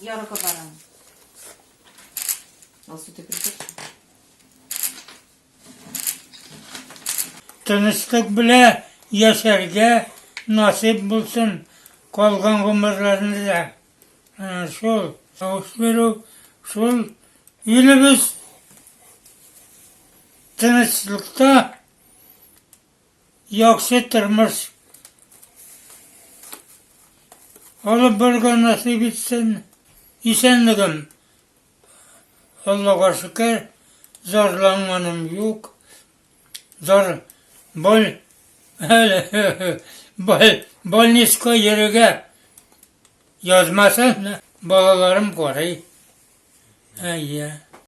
Я рука баран. Алсу, ты придешь? Тынычлык белән яшәргә насыйп булсын калган гомерләрне дә. Ә, Шул тавыш бирү, шул илебез тынычлыкта Яхшы тормыш алып барырга насыйп итсен. Исәнлегем, Аллага шөкер, зарланганым юк. Зар бал бал больницка йөрергә язмасын, балаларым карый. Әйе.